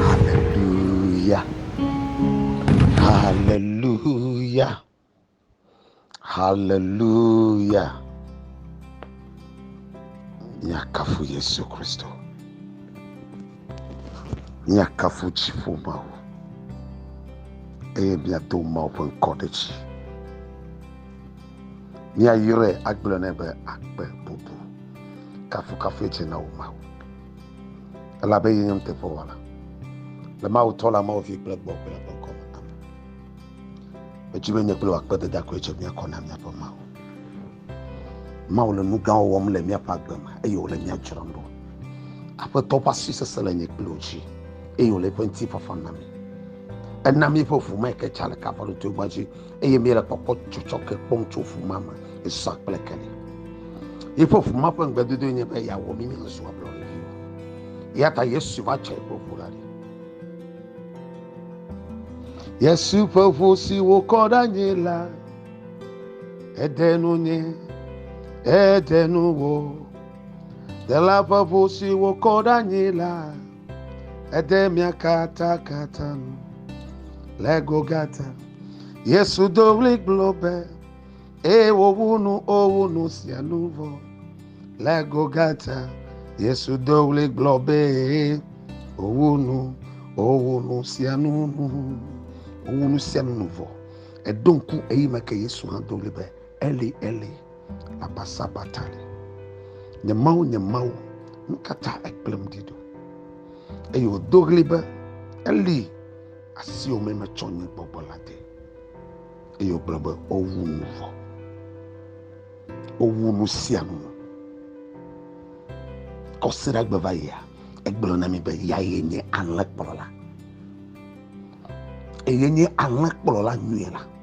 Haleluya, haleluya, haleluya. Míakafu Yesu Kristo. Míakafu dziƒo Mawu eye míado Mawu ƒe ŋkɔ ɖe dzi. Míayɔe agblɔ nɛ be akpe bubu. Kafukafu edze na wò Mawu. elabe ye nye nuteƒewɔla le Mawu tɔ la Mawu vi kple gbɔgbɔ la ƒe ŋkɔ me. Amen. Edzi be nye kple wò akpedada koe dze mía kɔ na míaƒe Mawu. Mawu le nu gãwo wɔm le míaƒe agbe me eye wòle mía dzram ɖo. Aƒetɔ ƒe asi sesẽ le nye kple wò dzi eye wòle eƒe ŋutifafa na mi. Ena míeƒe ʋu me ke tsa le kafãɖotoegba dzi eye míele kpɔkpɔ tsɔtsɔke kpɔm tso ʋu ma me zã kple kene. Yeƒe ʋu ma ƒe ŋugbedodoe nye be yeawɔ mí míazu ablɔɖeviwo. Eya ta Yesu va tsɔ yeƒe ʋu la ɖi. Yesu ƒe ʋu si wòkɔ ɖe anyi la, eɖe nu nye, eɖe nu wò. Dela ƒe ʋu si wòkɔ ɖe anyi la, Ede mia katã katã nu le Golgata. Yesu do ɣli gblɔ be, eye wòwu nu owu nu sia nu vɔ. Le Golgata, Yesu do ɣli gblɔ be, òwu nu owu nu sia nu nu. Òwu nu sia nu nu vɔ. Eɖo ŋku eyi me ke Yesu hã do ɣli be, Eli, Eli. abasabatani. Nye Mawu, nye Mawu, nu ka ta èkplem ɖi ɖo? Eye wòdo ɣli be, Eli, asiwò mee metsɔ nye gbɔgbɔ la de. Eye wògblɔ be, Wowu nu vɔ. Wowu nu sia nu. Kɔsiɖa gbe va yia, egblɔ na mi be yeaye nye alẽkplɔla. Eye nye alẽkplɔla nyuie la.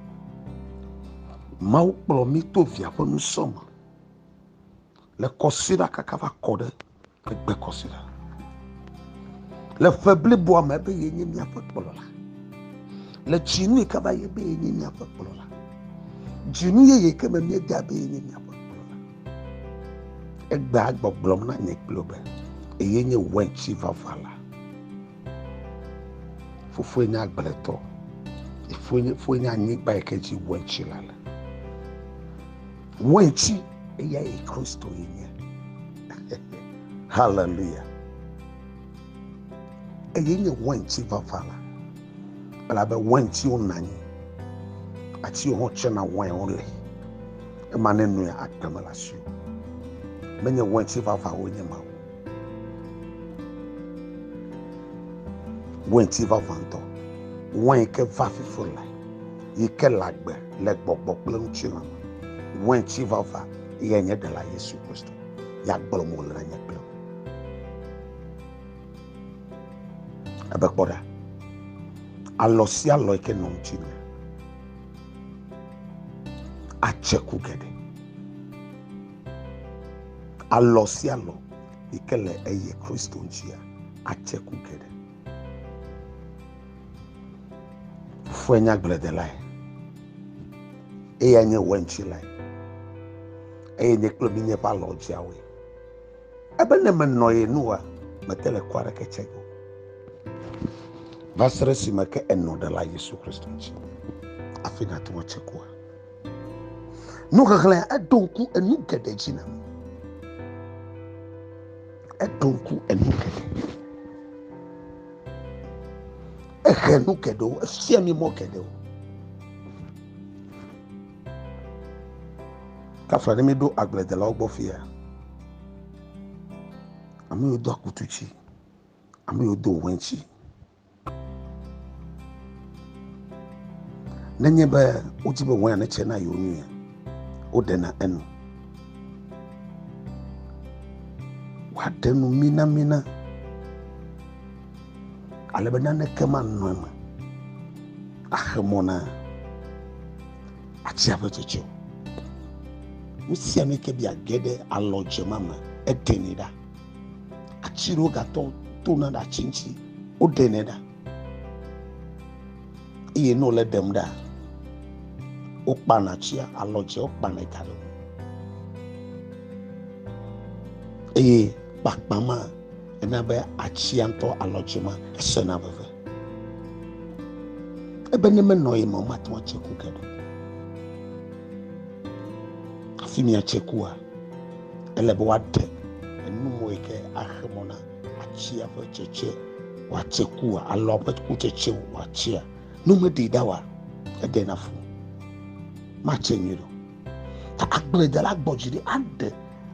Mawu kplɔ mí to via ƒe nusrɔ̃ me le kɔsiɖa kaka va kɔ ɖe egbe kɔsiɖa. Le ƒe bliboa me ebe ye nye míaƒe kplɔla. Le tsinu yi ke va ye be ye nye míaƒe kplɔla. Dzinu yeye ke me míeda be ye nye míaƒe kplɔla. Egbea gbɔgblɔm na nye kple be eye nye wɛntsi vava la. Fofoe nye agbletɔ. Fofoe nye anyigba yi ke dzi wetsi la le. Wetsi eya yi Kristo yi nye. Haleluya. Eye nye wetsi vava la. Elabe wetiwo nɔ anyi. Atiwo hã tsena wɔewo le. Ema ne nɔe agbe mele asi o. Menye weti vavawo nye ma o. Wɛnti vavãtɔ, wɛn ke va fifo le, yi ke le agbe le gbɔgbɔ kple ŋutilã me. Wɛnti vava yɛ nye Ɖela Yesu Kristo. Ya gblɔ mo le nye kple wò. Ebe kpɔ ɖa, alɔ sia alɔ yi ke nɔ ŋutinye atse ku geɖe. Alɔ sia alɔ yi ke le eye Kristo ŋutia atse ku geɖe. Fofoa nye agbledelae eye nye wɛntsilae eye nye kple mi nye ƒe alɔ dziawoe. Ebe ne menɔ ye nua, mete le ku aɖeke tse o. Va se ɖe esime ke enɔ ɖela Yesu Kristo ŋuti, hafi nàte ŋu atse kua. Nuxexlẽ, eɖo ŋku enu geɖe dzi na mi. Eɖo ŋku enu geɖe. Ehe nu geɖewo, efia mi mɔ geɖewo. Kafla ɖe mi ɖo agbledelawo gbɔ fia. Ame yiwo do akutu dzi, ame yiwo do wɛntsi. Nenye be wodi be wain netse na yewo nui, woɖena enu. Woaɖe nu minamina ale be naneke manɔ eme axe mɔ na atia ƒe tsetse o. Nu sia nu yi ke be yeage ɖe alɔdzema me, eɖenɛ ɖa. atsi ɖewo gatɔ tona ɖe atsi ŋtsi wo ɖenɛ ɖa eye ne wole ɖem ɖa wo kpana atsia alɔ dze wo kpanɛ da ɖe eye kpakpa ma ena be atsia ŋtɔ alɔ dze ma esena veve ebe ne menɔ ye ma wo mate ŋu atse ku ke ɖo afi mi atse kua Ele be woaɖe enumɔ yi ke axe mɔ na atsia ƒe tsetse wòatse kua alo ƒe kutsetse wòatsia. Nu meɖee ɖa wa eɖe na fu matse nyui ɖo. Ta agbledela gbɔ dzi ɖi aɖe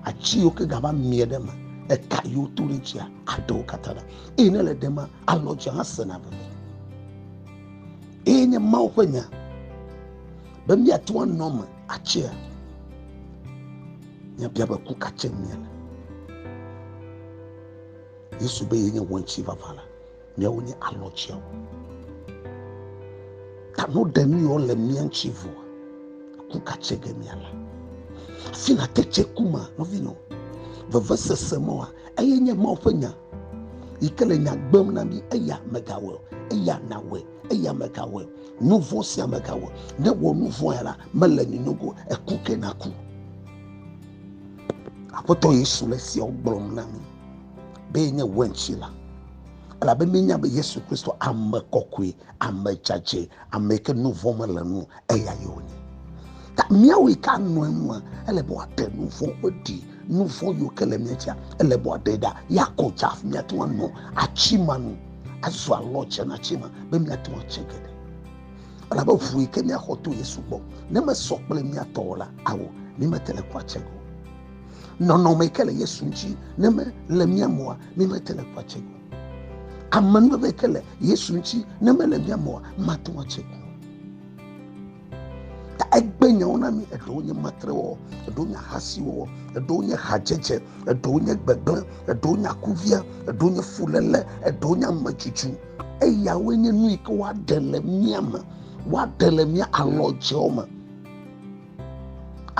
atsi yiwo ke gava mie ɖe me eka yiwo to ɖe dzia aɖewo katã ɖa eye ne le ɖe ma alɔ dzia hã sena veve. Eye nye Mawu ƒe nya be míate ŋu anɔ me atsea? Míabia be ku ka tsem miele? Yesu be yenye wɔntsi vava la, míawo nye alɔtsiawo. Ta no ɖe nu yɔ le mía ŋuti vɔ, ku ka tse ge míala. Afi na te tse ku ma, nɔvinɔ, vevesese mɔa, eye nye Mawu ƒe nya yi ke le nya gbem na mí eya megawɔe eya nawɔe eya megawɔe Nu vɔ̃ sia megawɔ. Ne wɔ nu vɔ̃e la, mele ni nogo, eku ke naku. Aƒetɔ Yesu le siawo gblɔm na mi be yenye wɛntsi la. Elabe míenya be Yesu Kristo ame kɔkɔe, ame dzadzɛ, ame yi ke nu vɔ̃ mele nu, eya ye wònye. Ta míawo yi ke anɔ enua, ele be wòaɖe nu vɔ̃ ƒe ɖi, nu vɔ̃ yiwo ke le mía dzia, ele be wòaɖe ɖa, yeakɔ dzi hafi míate ŋu anɔ atsi ma nu. azɔ alɔ tsenatsi me be miate ŋu atse geɖe. Elabe ʋu yi ke miaxɔ to Yesu gbɔ, ne mesɔ kple mia tɔ o la, ao, mi mete le kua tse o. Nɔnɔme yi ke le Yesu ŋuti, ne me le mia me oa, mi mete le kua tse o. Amenuveve yi ke le Yesu ŋuti, ne me le mia me oa, mate ŋu atse o. ta egbe nyawo na mi eɖewo nye matrewɔwɔ eɖewo nye ahasiwɔwɔ eɖewo nye hadzedze eɖewo nye gbegblẽ eɖewo nye akuvia eɖewo nye fuléle eɖewo nye ametutu eyawoe nye nu yi ke woaɖe le mía me woaɖe le mía alɔdzewo me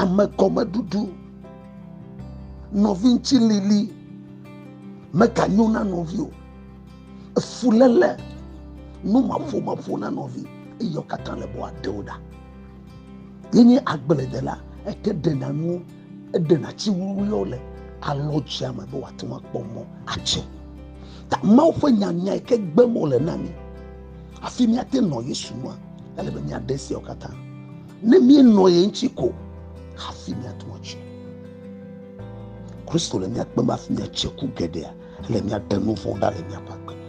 ame gɔmeɖuɖu nɔvi ŋuti lili meganyo na nɔvi o Efuléle, nu maƒomaƒo na nɔvi eye wo katã le be woade wo ɖa. Yenye agbledela, eke ɖena nuwo, eɖena tsi wuwluiwo le alɔdzea me be wòate ŋu akpɔ mɔ atse. Ta Mawu ƒe nya nyae ke gbe mo le na mí. Hafi míate nɔ Yesu nua, ele be míaɖe esiawo katã. Ne míenɔ ye ŋuti ko hafi míate ŋu atse. Kristo le mía kpem hafi míatse ku geɖea. le miaɖe nu vɔ̃ ɖa le miaƒe agbe me.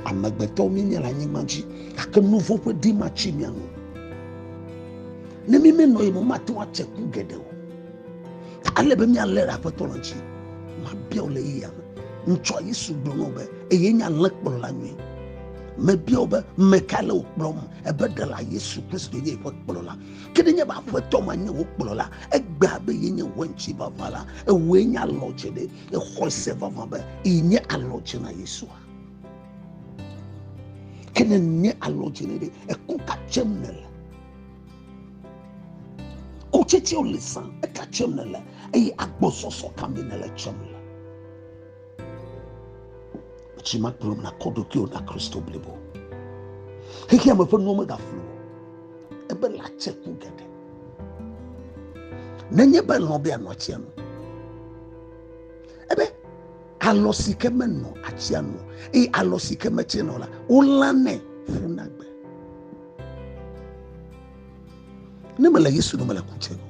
Amegbetɔwo mi nye le anyigba dzi, gake nu vɔ̃ ƒe ɖi matsi mia nu. Ne mi menɔ yi me mate ŋu atse ku geɖe o. Ta ele be mialé ɖe aƒetɔ la ŋuti. Mabia wò le yeyea me. Ŋutsua Yesu gblɔ na wo be eye nye alẽkplɔla nyui. Mebia wo be ame kae le wò kplɔm? Ebe ɖela Yesu Kristo nye yeƒe kplɔla. Ke ɖe nye be aƒetɔ ma nye wò kplɔla, egbea be ye nye wò eŋuti vava la, ewòe nye alɔdzeɖe. Le xɔse vava be yi nye alɔ dze na Yesua. Ke ne nye alɔ dze ne ɖe eku ka tsem ne le. Kutsetsewo le san eka tsem ne le eye agbɔsɔsɔ ka me ne le tsem le. Tsi ma kplɔm na kɔ ɖokuiwo na Kristo blibo. Xexea me ƒe nuwo megaflu o. Ebe la tse ku geɖe. nenye be lɔ̃ be anɔ atsia nu ebe alɔ si ke menɔ atsia nu eye alɔ si ke metse nɔ la wolanɛ ƒu na gbe ne mele yesu no mele ku tse no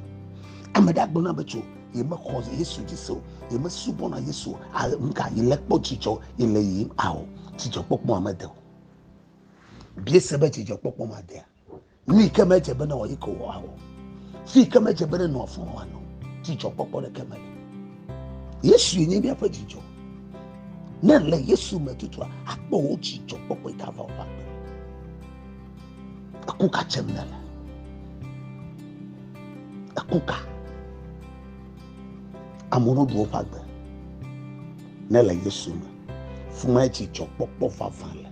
ame ɖe agblɔ na be tso yemexɔ yesu dzi se o yemesubɔna yesu o nka yele kpɔ dzidzɔ yele yiyim ao dzidzɔkpɔkpɔ amede o biese be dzidzɔkpɔkpɔ madea nu yi ke medze be newɔ yi ke wòawɔ, fi yi ke medze be nenɔ afɔ wòanɔ, dzidzɔkpɔkpɔ ɖeke meli. Yesue nye míaƒe dzidzɔ. Ne le Yesu me tutua, akpɔ wò dzidzɔkpɔkpɔ yi ke ava wò ƒe agbe. Eku ka tsem nèle? Eku ka? Amewo ɖu woƒe agbe ne le Yesu me. Fuma dzidzɔkpɔkpɔ vavã le.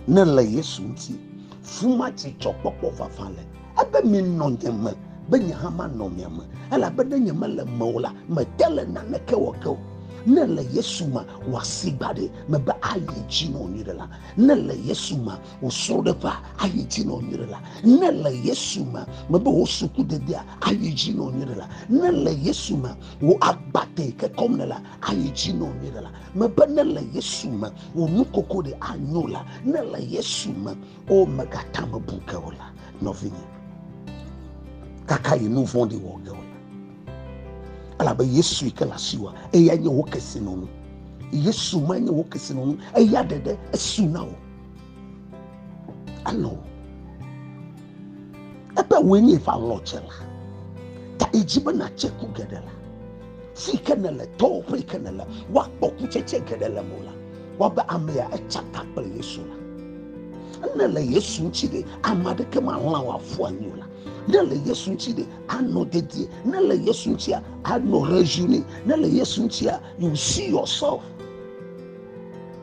Ne le Yesu ŋuti, fuma dzidzɔkpɔkpɔ vavã le. Ebe minɔ nye me, be nye hã manɔ mia me. Elabe ne nye mele me o la, mete le naneke wɔ ke o. Ne le Yesu me, wò asi gbaɖɛ mebe ayi dzi nɔ nyui ɖe la. Ne le Yesu me, wò srɔ̃ɖeƒea ayi dzi nɔ nyui ɖe la. Ne le Yesu me, mebe wò sukudedea ayi dzi nɔ nyui ɖe la. Ne le Yesu me, wò agbate yi ke kɔm le la ayi dzi nɔ nyuie ɖe la mebe ne le yesu me wò nu koko ɖe anyo la ne le yesu me o megata me bu ke o la nɔvinye kaka yi nu vɔɖi wɔ ge o la elabe yesu yi ke le asi wa eya nye wò kesinɔnu yesu ma nye wò kesinɔnu eya ɖeɖe esu na wò Alo ebe wòe nye va lɔ dze la ta edzi be nàtse ku geɖe la si ke nele tɔwo ƒe ke nele woakpɔ kutsetse geɖe le mo la wɔbe amea etsa ta kple yesu la ne le yesu ŋuti ɖe ame aɖeke mahlã wò afu anyi o la ne le yesu ŋuti ɖe anɔ dedie ne le yesu ŋutia anɔ rejuine ne le yesu ŋutia you see yourself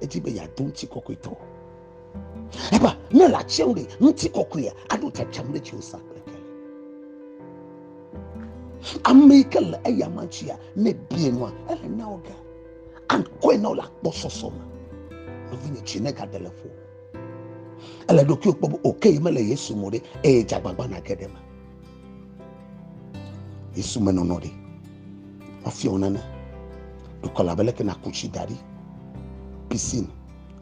edi be yeado ŋutikɔkɔetɔ. Eba ne le atsiawo ɖe ŋutikɔkɔea aɖo tsatsam ɖe tsi osa kple ke. Ame yi ke le eya ma tsia ne bie nua ele na wo ga. Ankɔe na wo le akpɔsɔsɔ me. Nɔvinye tsi ne gade le ƒo. Ele ɖokuiwo kpɔ be oke yi mele Yesu mo ɖe eye dzagbagba nage ɖe me. Yesu me nɔnɔ ɖe. Wafia wo nane. Dukɔ la bele ke na kuchi dari. Piscine.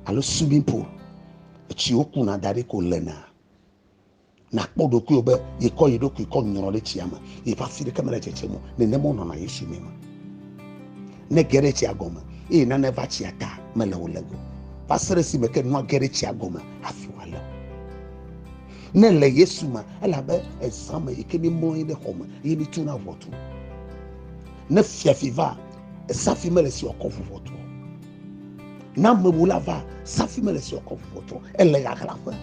Alo swimming pool. Etsi wo kuna dari ko le na. Na kpɔ ɖokui obe ye kɔ yi ɖokui kɔ nyɔrɔ ɖe tsia me. Ye fa fi ɖe kemele tsetse mo. Ne ne mo nɔ na Yesu me ma. Ne ge ɖe tsia gɔme. Eye nane va tsia ta mele wo le go. Va sere si me ke nua ge ɖe tsia gɔme. Afi wa le. ne le yesu me elabe ezã me yi ke mi mlɔ anyi ɖe xɔ me ye mi tuna ʋɔtru ne fiafi va esafi mele si ɔkɔ ʋu ʋɔtru na amewu la va safi mele si ɔkɔ ʋu ʋɔtru ele ɣaɣlaƒe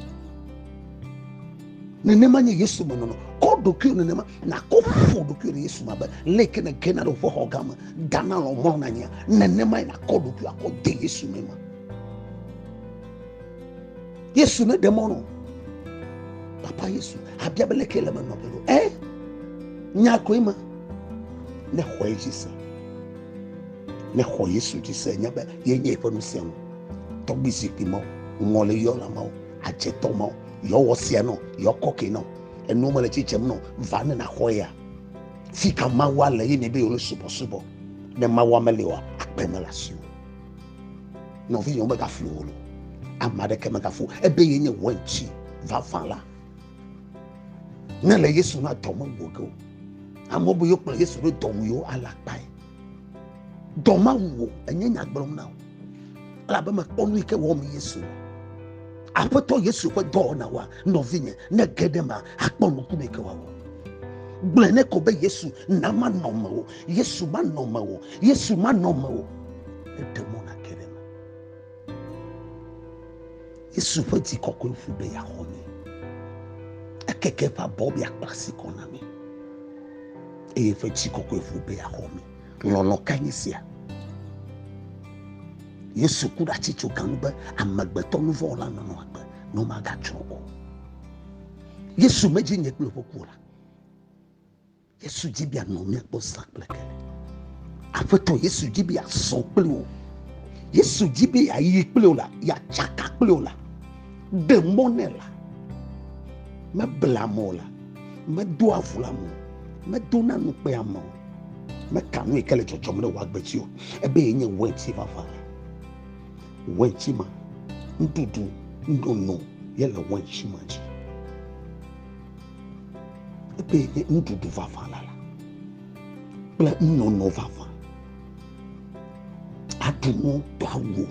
nenema nye yesu me nɔnɔ kɔ ɖokuiwo nenema nakɔ ƒo ɖokuiwo ɖe yesu me abe le ke ne gena ɖe woƒe xɔ gã me dana lɔ mlɔ na nyia nenema yi nakɔ ɖokuiwo akɔ de yesu me ma yesu ne ɖemɔ no papa yesu abia be leke le me nɔ belo ɛ nya koe me ne xɔ ye dzi se ne xɔ yesu dzi se nya be ye nye eƒe nusia ŋu tɔgbi zikpui mawo ŋɔ le yɔ la mawo adzetɔ mawo yɔ wɔ sia nɔ yɔ kɔke nɔ enu me le tsitsem nɔ va ne na xɔ ya fi ka mawa le ye ne be yɔ le subɔ subɔ ne mawa me le wa akpɛ me la si o Nɔvinyewo megafu wò lo. Ame aɖeke megafu ebe ye nye wɛntsi vavã la. Ne le Yesu na dɔ mewu ge o. Amewo be yokplɔ Yesu ɖo dɔ wu yewo ala kpae. Dɔ mawu wò enye nya gblɔm na wò. Elabe mekpɔ nu yi ke wɔm Yesu le. Aƒetɔ Yesu ƒe dɔwɔnawoa, nɔvinye, ne ge ɖe ema, akpɔ nuku me ke wòawɔ. Gblɔe ne ko be Yesu na manɔ mewò Yesu manɔ mewò, Yesu manɔ mewò, eɖe mɔ nake ɖe me. Yesu ƒe dzi kɔkɔe ƒu be yeaxɔ mi. Ekeke eƒe abɔ be yeakpla asi kɔ na mi. Eye eƒe dzi kɔkɔe ƒu be yeaxɔ mi. Lɔlɔ ka nye sia? Yesu ku ɖe atsi tso gan be amegbetɔ nu vɔ la nɔnɔ agbe ne magatsrɔ̃ o. Yesu medzi nye kple ƒe ku la. Yesu dzi be anɔ míakpɔ zã kple kele. Aƒetɔ Yesu dzi be azɔ kple wò. Yesu dzi be yeayi kple wò la, yeatsaka kple wò la, de mɔ nɛ la. Mebla mɔ la, medoa avu la mo, medona nu kpe ame o, meka nui ke le dzɔdzɔm ɖe wò agbe dzi o, ebe ye nye wɛnti vava la. Wɛnti ma, nuɖuɖu, nono ye le wɛnti ma dzi. Ebe nye nuɖuɖu vavã la la kple nunono vavã. Aɖu nu do awu o,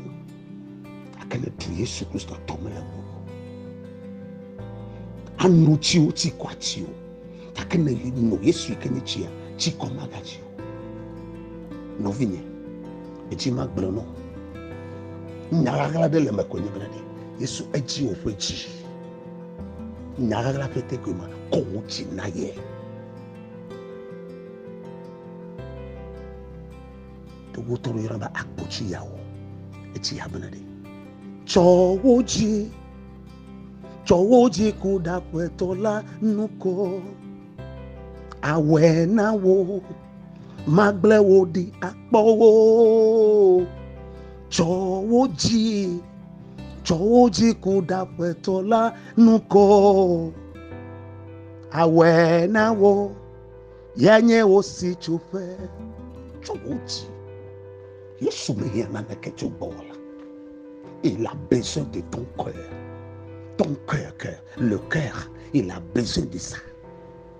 gake le tu Yesu Kristo tɔ me le ŋu. Anu tsiwo tsi kɔ atsi o, gake ne no Yesu yi ke nye tsia, tsi kɔ magatsi o. Nɔvinye, edzi magblɔ nɔ. Nya ɣaɣla ɖe le me ko nye be ɖe Yesu edzi woƒe dzi. Nya ɣaɣla ƒe tekoe ma kɔ wò dzi na ye. To wò tɔrɔ yɔrɔ ba agbotsi yawo. Etsi ya bena ɖe. Tsɔ wò dzi. Tsɔ wò dzi ku ɖaƒetɔ la nukɔ. Awɛ na wò. magblẽ wò ɖi akpɔ wò tsɔ wò dzi tsɔ wò dzi ku ɖa ƒetɔ la nu kɔ awɔe na wò ya nye wò si tsoƒe tsɔ wò dzi yesu mehiã naneke tso gbɔwɔ la il a besoin de ton cœur ton cœur cœur le cœur il a besoin de ça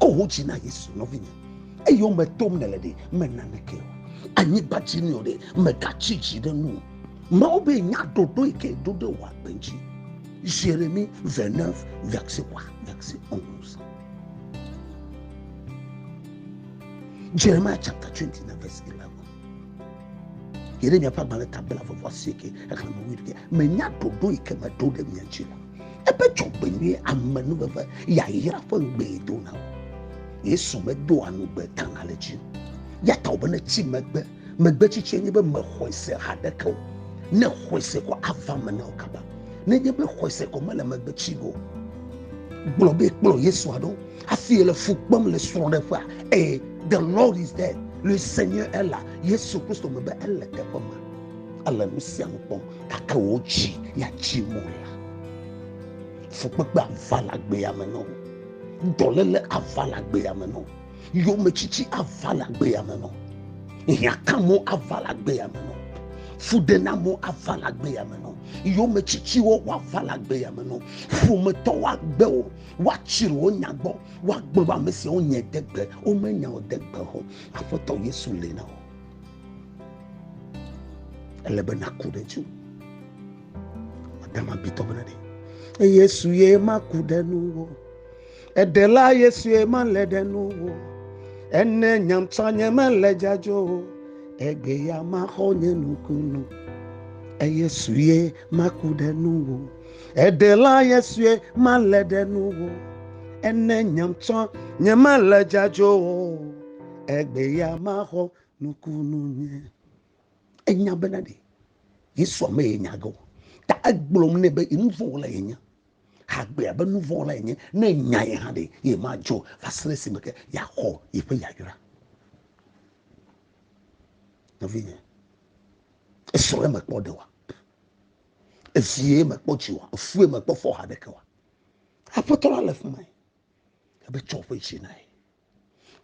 Ko ho dzi na Yesu nɔvinye. Eyo me tom nèle ɖe, mèna neke o. Anyigba dzi nɔ ɖe, mègatsi dzi ɖe nu o. Mawu be nya ɖoɖo yi ke ɖo ɖe wò agbe dzi. Jérémie 29, verset 3, verset 11. Jeremiah chapter 29, verse 11. yi ɖe miaƒe agbalẽ ta bla vɔvɔ asieke exlẽme wuiɖe menya ɖoɖo yi ke meɖo ɖe mia dzi la ebe dzɔgbenyui amenuveve yayra ƒe ŋugbee dona o yesu medoa nugbe tana le dzi ya ta wòbe ne tsi megbe megbe tsitsie nye be mexɔe se haɖeke o ne xɔe se ko ava me na wo kaba ne nye be xɔe se ko mele megbe tsi o gblɔ be kplɔ yesu aɖo Asi le fu kpem le srɔ̃ɖeƒea. Ee, the Lord is there. Le Senyɔ est la, Yesu Kristo me be ele teƒe ma. Ele nu sia nu kpɔm gake wò dzi ya dzi mo la. Fukpekpe ava le agbea me nɔ. Dɔlele ava le agbea me nɔ. Yometsitsi ava le agbea me nɔ. Hiãkamo ava le agbea me nɔ. Fuɖenamo ava le agbea me nɔ. Yometsitsiwo woava le agbea me nɔ. Ƒometɔwo agbe wo. woatsir wo nya gbɔ woagbe be ame siawo nye de gbe womenya o de gbe ho aƒetɔ yesu li na wo ele be naku ɖe dzi adama bitɔ bena ɖe yesu ye maku ɖe nu wo eɖela yesu ye male ɖe nu wo ene nyamtsɔ nye mele dzadzo o egbe ya maxɔ nye nukunu eyesu ye maku ɖe nu wo Eɖela Yesue malé ɖe nu o, ene nyem tsɔ nyemele dzadzo o, egbe ya maxɔ nukunu nye. Enya bena ɖe Yesu ame ye nya ge o, ta egblɔm nɛ be nuvɔwɔla ye nye. Hagbe abe nuvɔwɔla ye nye, ne nya ye hã ɖe ye madzo va se ɖe esime ke yeaxɔ yeƒe yayra. Nɔvinye, esɔ ɖe eme kpɔ ɖewa? ezie mekpɔ dzi wa efue mekpɔ fɔ ha ɖeke wa aƒetɔ la le fima ebe tsɔ ƒe dzi na ye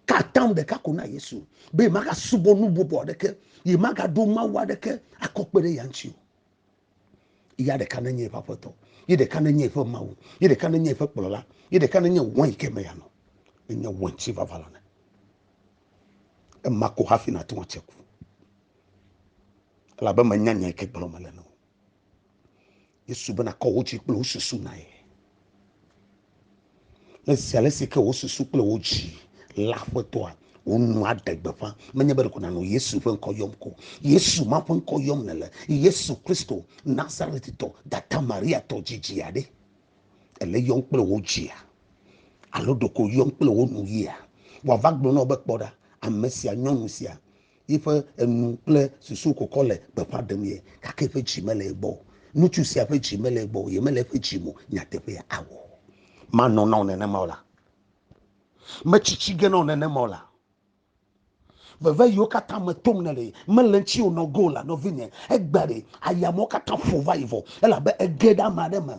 katam ɖeka ko na yesu be maga subɔ nu bɔbɔ aɖeke yi maga ɖo mawu aɖeke akɔkpe ɖe ya ŋuti o ya ɖeka nenye eƒe aƒetɔ yi ɖeka nenye eƒe mawu yi ɖeka nenye eƒe kplɔla yi ɖeka nenye wɔn yi ke me ya nɔ enye wɔn ti vava la ne ema ko hafi na tɔn atseku Elabe menya nya yi ke gblɔm mele na wo. Yesu be nakɔ wo dzi kple wo susu na ye. Le zi ale si ke wo susu kple wo dzi la aƒetɔa, wo nu aɖe gbeƒã. Menye be ɖeko nànɔ Yesu ƒe ŋkɔ yɔm ko. Yesu ma ƒe ŋkɔ yɔm nèle. Yesu Kristo, Nazaretitɔ, dada Mariatɔ dzidzia ɖe. Ele yɔm kple wo dzia alo ɖeko yɔm kple wo nu yia. Wòava gblɔ na wo be kpɔ ɖa, ame sia, nyɔnu sia, Yiƒe enu kple susu kokɔ le gbeƒã ɖem ye, gake eƒe dzi mele ye gbɔ o. Ŋutsu sia ƒe dzi mele ye gbɔ o, ye mele eƒe dzi me o, nyateƒea awɔ. Manɔ na wò nenema o la, metsi tsi ge na wò nenema o la, veve yiwo katã me tom nèle, mele ŋutiwò nɔ go o la, nɔvinye, egbe aɖe, aya mawo katã ƒo va yi vɔ, elabe ege ɖe ame aɖe me.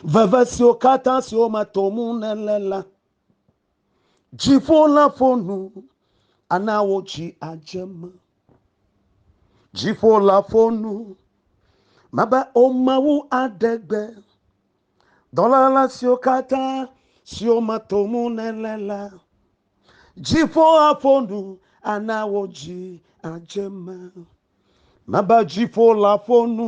Veve siwo katã siwo me tom nèle la, Dziƒo la ƒo nu, ana wo dzi adze me. Dziƒo la ƒo nu, mebe o Mawu aɖe gbe. Dɔlala siwo katã siwo me to mu nèle la, dziƒo aƒo nu, ana wo dzi adze me. Mebe dziƒo la ƒo nu.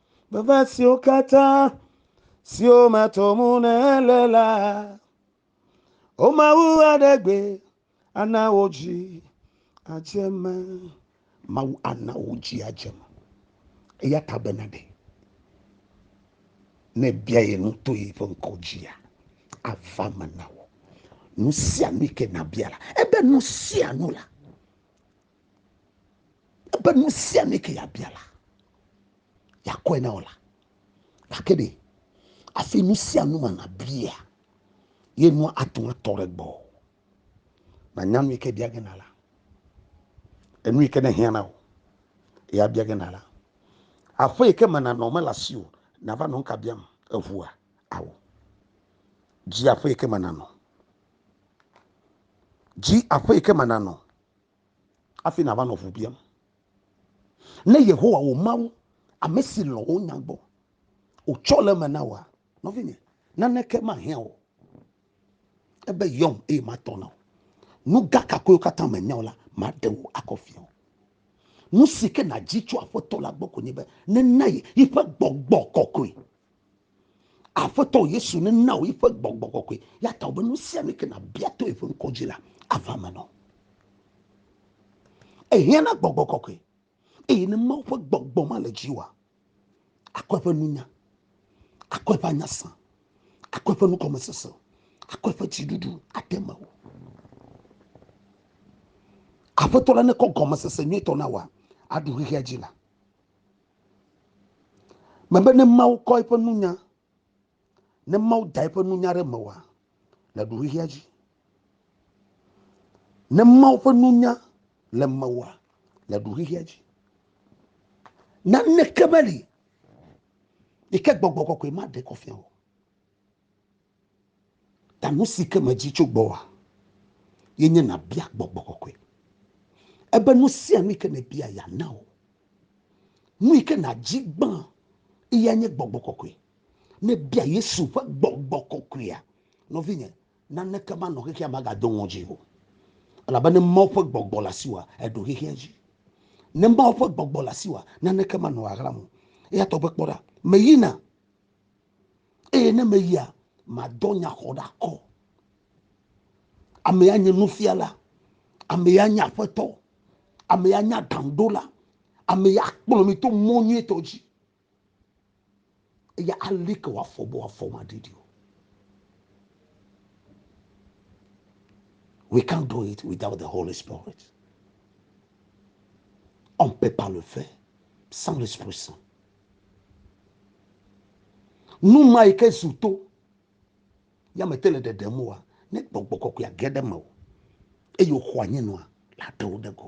Veve siwo katã siwo meto mu nèle la, o Mawu aɖe gbe ana wò dzi adze me. Mawu ana wò dzi adze me. Eya ta bena ɖe ne bia ye nu to yi ƒe ŋkɔ dzia, ava me na wò. Nu sia nu ke nabia la, ebe nu sia nu la. ebe nu sia nu ke yabia la yakɔe na wò la gake ɖe afi nu sia nu ma nabia ye nua atu atɔ ɖe gbɔ nanya nu yi ke bia gena la enu yi ke ne hiã na wò ya bia gena la aƒe yi ke me nanɔ mele asi o nava nɔ nka biam eʋua awo dzi aƒe yi ke me nanɔ dzi aƒe yi ke me nanɔ hafi nàva nɔ ŋu biam. Ne Yehowa wò Mawu, ame si lɔ̃ wò nya gbɔ, wòtsɔ le eme na wòa, nɔvinye, naneke mahiã wò ebe yɔm eye matɔ na wò. Nu gã kakoewo katã mènya o la, maɖe wò akɔ fia wò. Nu si ke nàdzi tso Aƒetɔ la gbɔ koe nye be nena ye yiƒe gbɔgbɔ kɔkɔe Aƒetɔ Yesu nena wò yiƒe gbɔgbɔ kɔkɔe. Ya ta wòbe nu sia nu ke nàbia to yeƒe ŋkɔ dzi la, ava me nɔ. Ehiã na gbɔgbɔ kɔkɔe. Eye ne Mawu ƒe gbɔgbɔ ma le dziwòa, akɔ eƒe nunya, akɔ eƒe anyasã, akɔ eƒe nukɔmesese, akɔ eƒe dziɖuɖu ade me wò. Aƒetɔ la nekɔ gɔmesese nyuitɔ na wòa, aɖu xexea dzi la. Mebe ne Mawu kɔ eƒe nunya, ne Mawu da eƒe nunya ɖe mewoa, le ɖuxexea dzi. Ne Mawu ƒe nunya le mewoa, le ɖuxexea dzi. Naneke meli yi ke gbɔgbɔ kɔkɔe maɖe kɔ fia o. Ta nu si ke medzi tso gbɔwòa, ye nye nàbia gbɔgbɔ kɔkɔe. Ebe nu sia nu yi ke nèbia yeana wò. Nu yi ke nàdzi gbã eyae nye gbɔgbɔ kɔkɔe. Ne èbia Yesu ƒe gbɔgbɔ kɔkɔea, nɔvinye, naneke manɔ xexea me agado ŋɔdzi o. Elabe ne Mawu ƒe gbɔgbɔ le asiwòa, èɖo xexea dzi. Ne Mawu ƒe gbɔgbɔ le asiwòa, naneke manɔ ɣaɣlam o. Eyatɔ gbe kpɔ ɖa, meyina. eye ne meyia madɔ nyaxɔɖakɔ amea nye nufiala amea nye aƒetɔ amea nye aɖaŋuɖola amea kplɔ mi to mɔ nyuitɔ dzi eye ali ke wòafɔ be wòafɔ maɖiɖi o we can't do it without the holy spirit on peut pas le faire sans l'esprit saint Nu ma yi ke zu to ya me te le ɖeɖem oa, ne gbɔgbɔ kɔkɔe age ɖe me o eye wòxɔ anyi nɔa, la ɖe wo ɖe go.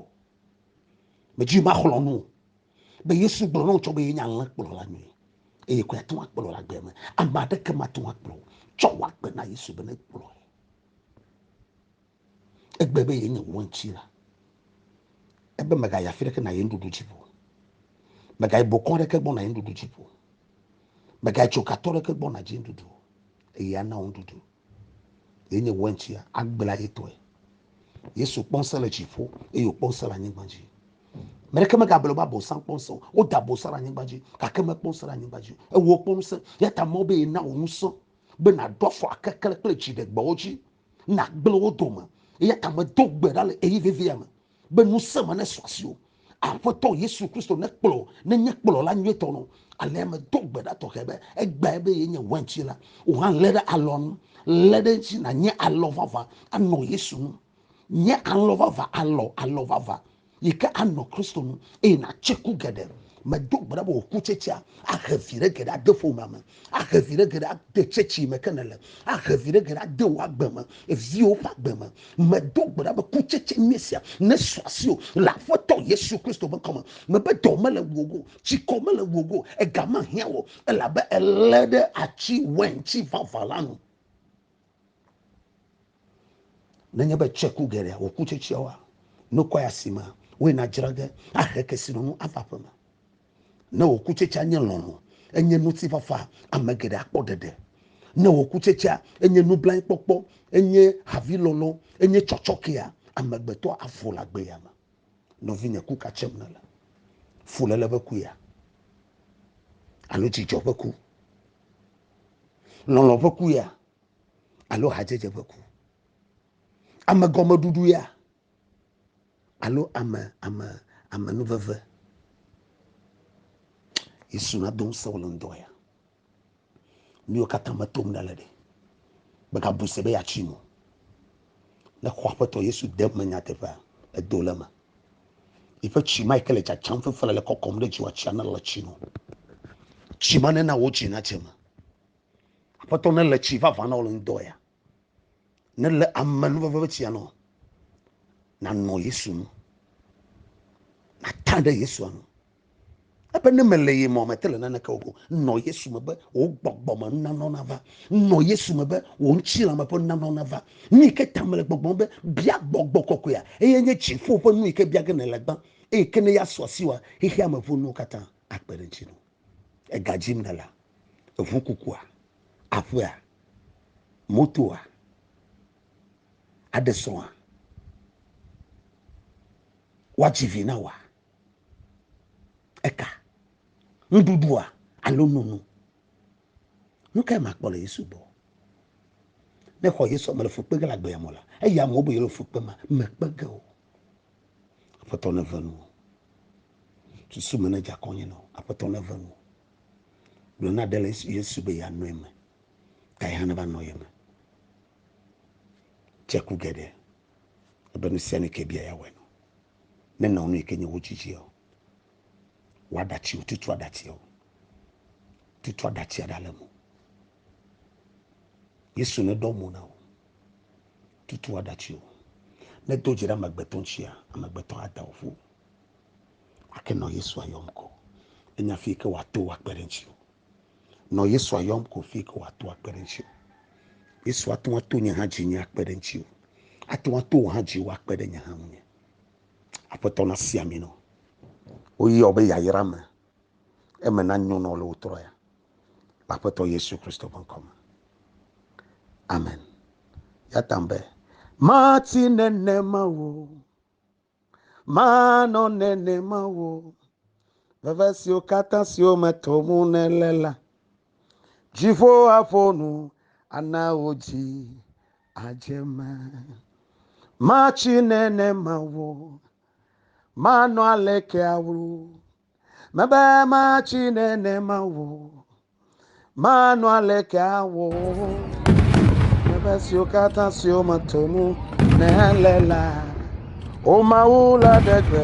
Medzi maxlɔ nu be Yesu gblɔ na wo tsɔ be yenye alẽ kplɔla nyui eye koe ate ŋu akplɔ le agbe me. Ame aɖeke mate ŋu akplɔ o. Tsɔ wò agbe na Yesu be nekplɔe. Egbe be yenye wò ŋutsila. Ebe mègayi afi ɖeke nàyi nuɖuɖu dzi ƒo. Mègayi bokɔ ɖeke gbɔ nàyi nuɖuɖu dzi ƒo. Mègayi tsokatɔ ɖeke gbɔ nàdzi nuɖuɖu o. Eye ana wò nuɖuɖu. Yenye wò ŋutsia, agbla ye tɔe. Yesu kpɔ ŋusẽ le dziƒo eye wòkpɔ ŋusẽ le anyigba dzi. Ame ɖeke megagblɔ be abosam kpɔ ŋusẽ o. Woda abosam ɖe anyigba dzi gake mekpɔ ŋusẽ ɖe anyigba dzi o. Ewɔ wòkpɔ ŋusẽ. Eya ta Mawu be yena wò ŋusẽ be nàɖo afɔ akeklẽ kple dziɖegbewo dzi. nàgblẽ wo dome. Eya ta medo gbe ɖa le ɣeyiɣi vevia me be ŋusẽ me nesɔ asiwò. Aƒetɔ Yesu Kristo nekplɔ wò nenye kplɔla nyuitɔ nɔ. Alea medo gbe ɖa tɔxɛ be egbeae be yenye weintsila. Wò hã lé ɖe alɔa nu. Lé ɖe edzi nànye alɔ vavã anɔ Yesu nu. Nye alɔ vavã, alɔ, alɔ vavã. yi ke anɔ Kristo nu eye nàtse ku geɖe. Medo gbe ɖa be wò kutsetsea ahe viɖe geɖe ade ƒomea me, ahe viɖe geɖe ade tsetse yi me ke nèle, ahe viɖe geɖe ade wò agbe me, viwò ƒe agbe me. Medo gbe ɖa be kutsetse nye esia nesu asiwò le Aƒetɔ Yesu Kristo ƒe ŋkɔ me. Mebe dɔ mele ŋuwò o, tsikɔ mele ŋuwò o, ega mehiã wò o, elabe èlé ɖe atsi wɛntsi vavã la nu. Nenye be tsɔe ku geɖea wòku tsetseawoa, nukɔe asi ma, woe nadzra ge, ahe kesinɔnu ava aƒe me. Ne wòku tsetsea nye lɔlɔ̃, enye ŋutifafa, ame geɖe akpɔ ɖeɖe. Ne wòku tsetsea enye nublanuikpɔkpɔ, enye havilɔlɔ̃, enye tsɔtsɔkea, amegbetɔ avu le agbeya me. Nɔvinye, ku ka tsem nèle? Fuléle ƒe kuea? Alo dzidzɔ ƒe ku? Lɔlɔ̃ ƒe ku ya alo hadzedze ƒe ku. Ame gɔmeɖuɖu ya alo ame ame ame nuveve. Yesu na dom se wole ŋdɔ ya. Miwo katã me tom ɖe le ɖe. Bega bu se be ya tsi mo. Ne xɔ aƒetɔ Yesu de me nyateƒea edo le me. Eƒe tsi ma yi ke le tsatsam fefele le kɔkɔm ɖe dziwɔ tsia nele tsi no. Tsi ma nena wo tsi na tse me. Aƒetɔ ne le tsi vava na wo le ŋdɔ ya. Ne le ame nu veve tsia nɔ. Na nɔ Yesu nu. Na ta ɖe Yesu nu. Ebe ne mele ye mɔ mete le naneke o, nɔ Yesu me be wò gbɔgbɔ me nunanɔ nava. Nɔ Yesu me be wò ŋutilã me ƒe nunanɔ nava. Nu yi ke ta mele gbɔgblɔm be bia gbɔgbɔ kɔkɔea, eye nye dziƒo ƒe nu yi ke bia ge nèle gbã, eye ke ne ya sɔ asi wòa, xexea me ƒe nuwo katã akpe ɖe ŋuti nɔ. Ega dzim nèlea? Eŋu kukua? Aƒea? Motoa? Aɖe srɔ̃a? Woadzi vi na wòa? Eka, nuɖuɖua alo nono. Nu kae makpɔ le Yesu gbɔ? Ne xɔ Yesu mele fu kpe ge le agbea me la, eya amewo be yele fu kpe ma mekpe ge o. Aƒetɔ ne ve nu. Susu me ne dza kɔnye nɔ. Aƒetɔ ne ve nu. Gblɔ na ɖe le Yesu be ya nɔ eme. Ta yi hã ne va nɔ ye me. Tse ku geɖe. Ebe nu sia ne ke bia ya wɔ nɔ. ne nɔ nu yi ke nye wo dzidzia o. Wɔ aɖatsi o, tutu aɖatsia o. Tutu aɖatsia ɖa le mo. Yesu ne ɖɔ mo na o. Tutu aɖatsi o. Ne do dzi ɖe amegbetɔ ŋutia, amegbetɔ ada o ƒo. Ake nɔ Yesu ayɔm kɔ. Enya fi yi ke wòato akpe ɖe ŋuti o. Nɔ Yesu ayɔm ko fi ke wòato akpe ɖe ŋuti. Yesu ate ŋu ato nye hã dzi nye akpe ɖe ŋuti o. Ate ŋu ato wò hã dzi woakpe ɖe nye hã ŋu nye. Aƒetɔ na si ami nɔ. Woyɔ be yayra me. Eme na nyo nɔ le wò trɔ ya. Le Aƒetɔ Yesu Kristo ƒe ŋkɔ me. Amen. Ya tam be, mati nenema o. Manɔ nenema wò veve siwo katã siwo me tom nèle la. Dziƒo aƒo nu ana wò dzi adze eme. Matsi nenema wò. Manɔ aleke awlu Mebe matsi nenema o, manɔ aleke awɔ o. Mebe siwo katã siwo meto nu nèle la, o Mawu la ɖe gbe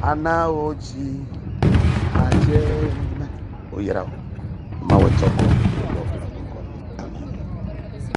ana wo dzi adze me. Woyra wo. Mawu tsɔ kɔ.